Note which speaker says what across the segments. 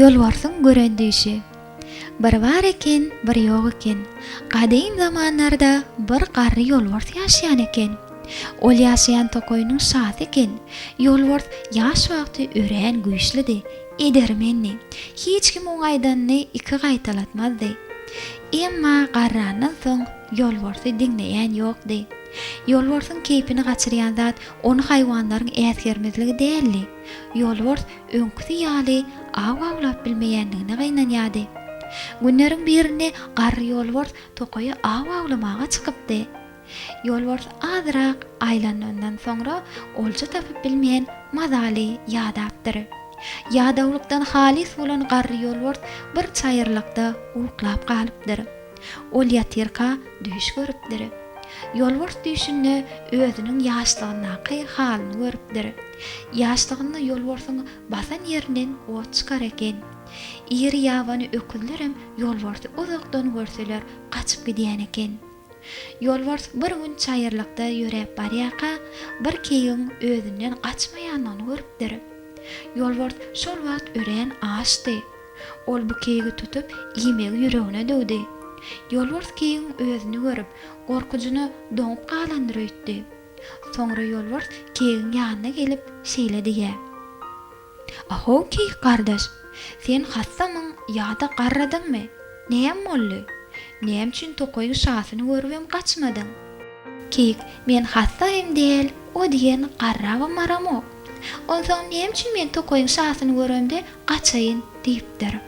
Speaker 1: Ýolbarsyň gören düýşi. Bir bar eken, bir ýok eken. Gadym zamanlarda bir garry ýolbars ýaşaýan eken. Ol ýaşaýan tokaýynyň şasy eken. Ýolbars ýaş wagty örän güýçlidi, edermendi. Hiç kim oň aýdanyny iki gaýtalatmazdy. Emma garrandan soň Ýolbarsy diňleýän ýokdy. Ýolbarsyň keýpini gaçyrýan zat ony haýwanlaryň äsgermezligi däldi. Ýolbars öňküsi ýaly aw awlap bilmeýändigine gynanýardy. Günleriň birinde garry ýolbars tokaýa aw awlamaga çykypdy. Ýolbars azyrak aýlanandan soňra olja tapyp bilmän mazaly ýadapdyr. Ýadawlykdan halys bolan garry ýolbars bir çaýyrlykda uklap galypdyr. Ol ýatyrka düýş görüpdir. Ýolbars düýşünde özüniň ýaşlygyndaky halyny görüpdir. Ýaşlygynda ýolbarsyň basan ýerinden ot çykar eken. Iri ýabany öküzlerem ýolbarsy uzakdan görseler gaçyp gidýän eken. Ýolbars bir gün çaýyrlykda ýöräp barýarka, bir keýigiň özünden gaçmaýanyny görüpdir. Ýolbars şol wagt örän açdy. Ol bu keýigi tutup, iýmegi ýüregine düwdi. Ýolbars keýigiň özüni görüp, gorkujyna doňup galandyr öýtdi. Soňra ýolbars keýigiň ýanyna gelip, şeýle diýýä. A-how, keýik gardaş! Sen hassamyň ýa-da garradyňmy? Näm boldy? Näme üçin tokaýyň şasyny görübem gaçmadyň? Keýik, Men hassa hem däl, o diýen garrabam-maramok. Onsoň näme üçin men tokaýyň şasyny göremde Gaçaýyn, diýipdir.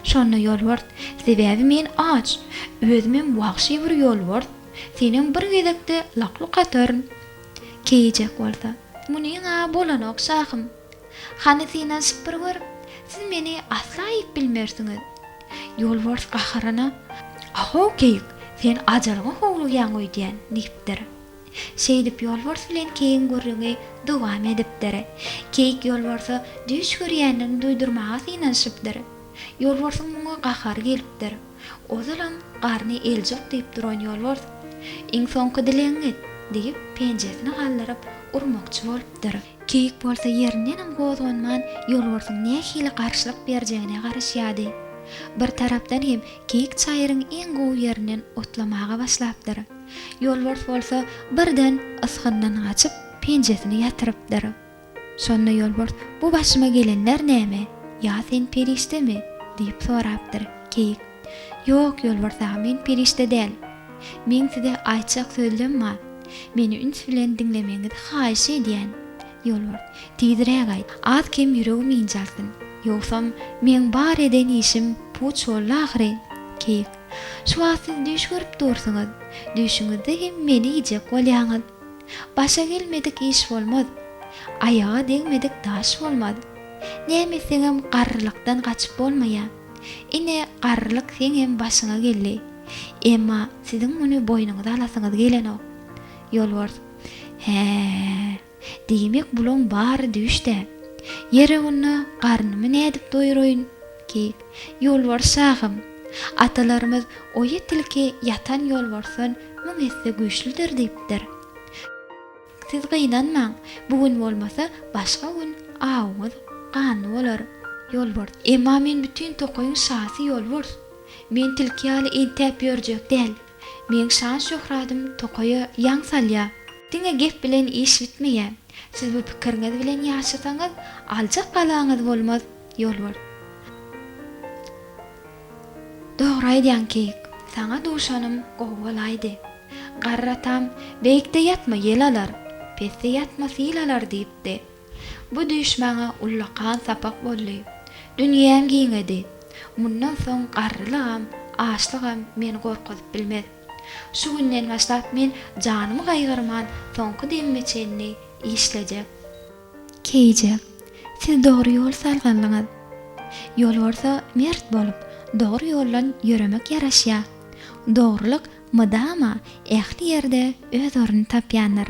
Speaker 1: Şonda ýolbars, Sebäbi men aç, özümem wagşy bir ýolbars, senem bir gezekde lak-luk ataryn. Keýijek bolsa, Munyň-a bolanok, şahym. Hany synanyşyp bir gör, siz meni asla iýip bilmersiňiz. Ýolbars gaharyna, A-how, keýik, sen ajalga howlugýaň öýdýän, diýipdir. Şeýdip ýolbars bilen keýigiň gürrüňi dowam edipdir. Keýik ýolbarsa düýş görýändigini duýdurmaga synanyşypdyr. Ýolbarsyň muňa gahary gelipdir. Ozalam garny eljuk diýip duran ýolbars, Iň soňky dilegiňi et! diýip, penjesini galdyryp, urmakçy bolupdyr. Keýik bolsa ýerindenem gozganman, ýolbarsyň nähili garşylyk berjegine garaşýardy. Bir tarapdan hem keýik çaýryň iň gowy ýerinden otlamaga başlapdyr. Ýolbars bolsa birden ysgyndan gaçyp, penjesini ýatyrypdyr. Şonda Ýolbars Bu başyma gelenler näme? Ýa sen perişdemi? diýip sorapdyr. Keýik Ýok, Ýolbars aga, men perişde däl. Meň size aýtjak sözlem bar. Meni üns bilen diňlemegiňizi haýyş edýän. Ýolbars Tizräk aýt, az-kem ýüregim ynjalsyn. Ýogsam, meň bar eden işim puç boldy ahyry. Keýik Şu wagt siz düýş görüp dursuňyz. Düýşüňizde hem meni iýjek bolýaňyz. Başa gelmedik iş bolmaz. Aýaga degmedik daş bolmaz. Näme etseňem garrylykdan gaçyp bolmaýa. Ine, garrylyk seňem başyňa geldi. Emma siziň muny boýnuňyza alasyňyz gelenok. Ýolbars, Hä-ä. Diýmek bulaň bary düýş-dä. Ýeri onda garnymy nädip doýuraýyn? Keýik, Ýolbars şahym, atalarymyz Oýa tilki ýatan ýolbarsdan müň esse güýçlüdir diýipdir. Siz gynanmaň, bu gün bolmasa, başga gün awuňyz ganly bolar. Ýolbars, Emma men bütin tokaýyň şasy Ýolbars. Men tilki ýaly entäp ýörjek däl. Meň şan-şöhradym tokaýa ýaň salýar. Diňe gep bilen iş bitmeýär. Siz bu pikiriňiz bilen ýaşasaňyz, aljak galaňyz bolmaz, Ýolbars. Dogry aýdýaň, Keýik. Saňa duşanym gowy bolaýdy. Garry atam, Beýikde ýatma, ýel alar, pesde ýatma, sil alar diýipdi. Bu düýş maňa ullakan sapak boldy. Dünýäm giňedi. Mundan soň garrylygam, açlygam meni gorkuzyp bilmez. Şu günden başlap men janymy gaýgyrman soňky demime çenli işlejek. Keýje, siz dogry ýol salgynlyňyz. Ýolbarsa mert bolup, dogry ýoldan ýöremek ýaraşýar. Dogrulyk mydama ähli ýerde öz ornuny tapýandyr.